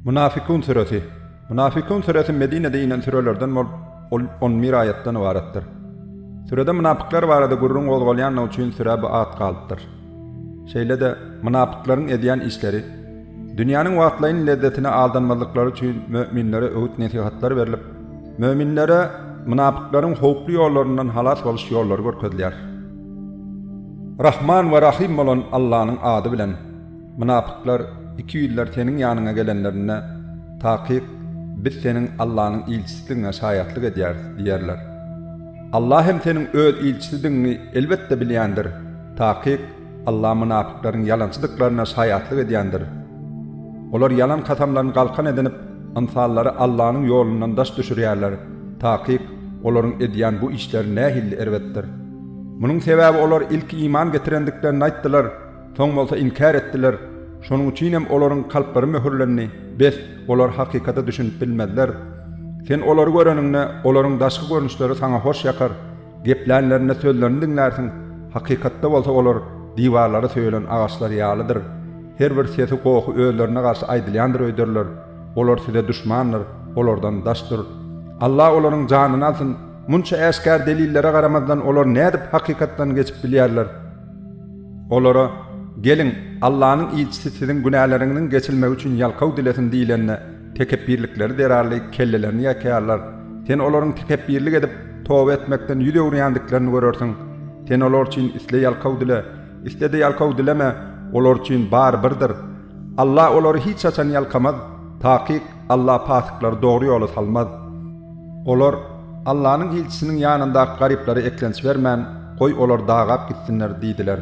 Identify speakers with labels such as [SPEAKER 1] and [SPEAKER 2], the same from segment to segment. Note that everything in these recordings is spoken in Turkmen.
[SPEAKER 1] Mynafykyň süresi. Mynafykyň süresi Medinede inen sürelerden bolup, ol on bir aýatdan ybaratdyr. Sürede mynapyklar barada gürrüň gozgalýanlygy üçin sürä bu at galypdyr. Şeýle-de, mynapyklaryň edýän işleri, dünýäniň wagtlaýyn lezzetine aldanmazlyklary üçin möminlere öwüt-nesihatlar berlip, möminlere mynapyklaryň howply ýollaryndan halas boluş ýollary görkezilýär. Rahman we Rahym bolan Allanyň ady bilen, mynapyklar ikiýüzler seniň ýanyňa gelenlerinde, Takyk, biz seniň Allanyň ilçisidigiňe şaýatlyk edýäris diýerler. Alla hem seniň Öz ilçisidigiňi elbetde bilýändir, takyk, Alla mynapyklaryň ýalançydyklaryna şaýatlyk edýändir. Olar ýalan kasamlaryny galkan edinip, Ynsandary Allanyň ýolundan daş düşürýärler. Takyk, olaryň edýän bu işleri nähilli erbetdir! Munuň sebäbi olar ilki iman getirendiklerini aýtdylar, soň bolsa inkär etdiler. Şonuň üçin hem olaryň kalplary möhürlendi. Bes, olar hakykata düşünip bilmezler. Sen olary göreniňde, olaryň daşky görnüşleri saňa hoş ýakar. Geplänlerinde sözlerini diňlärsiň, hakykatda bolsa olar diwarlary söýelen agaçlar ýalydyr. Her bir sesi gohy özlerine garşy aýdylýandyr öýderler. Olar size duşmandyr, olardan daş dur. Alla olaryň janyny alsyn! Munça äşgär delillere garamazdan olar nädip hakykatdan geçip bilýärler? Olara, Geliň, Allanyň ilçisi siziň günäleriňiziň geçilmegi üçin ýalkaw dilesin diýlende, Tekepbirlikleri zerarly kellelerini ýakaýarlar. Sen olaryň tekepbirlik edip, toba etmekden ýüz öwürýändiklerini görersiň. Sen olar üçin isle ýalkaw dile, isle-de ýalkaw dileme, olar üçin bary birdir. Alla olary hiç haçan ýalkamaz. Takyk, Alla pasyklary dogry ýola salmaz. Olar, Allanyň ilçisiniň ýanyndaky garyplara eklenç bermän, goý, olar dagap gitsinler diýdiler.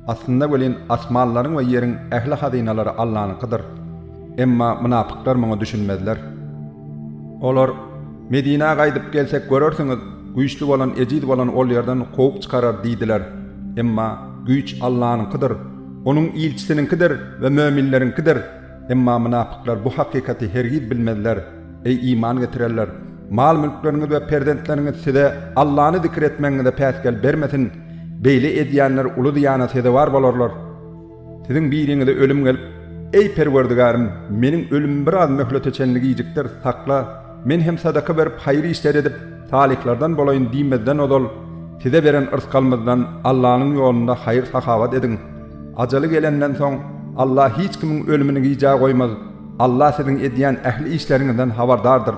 [SPEAKER 1] Aslynda welin, asmanlaryň we ýeriň ähli hazynalary Allanyňkydyr. Emma mynapyklar muňa düşünmezler. Olar, Medinä gaýdyp gelsek görersiňiz, güýçli bolan ejiz bolany ol ýerden kowup çykarar diýdiler. Emma güýç Allanyňkydyr. Onuň ilçisiniňkidir we möminleriňkidir. Emma mynapyklar bu hakykaty hergiz bilmezler. Eý, iman getirenler! Mal-mülkleriňiz we perzentleriňiz size Allany zikir etmegiňize päsgel bermesin! Beýle edýänler uly zyýana sezewar bolarlar. Siziň biriňize ölüm gelip, Eý, Perwerdigarym, meniň ölümimi biraz möhlete çenli gijikdir, sakla! Men hem sadaka berip, haýyr işler edip, salyhlardan bolaýyn diýmezden ozal, size beren yrsgalymyzdan Allanyň ýolunda haýyr-sahawat ediň. Ajaly gelenden soň, Alla hiç kimiň ölümini gijä goýmaz. Alla siziň edýän ähli işleriňizden habardardyr.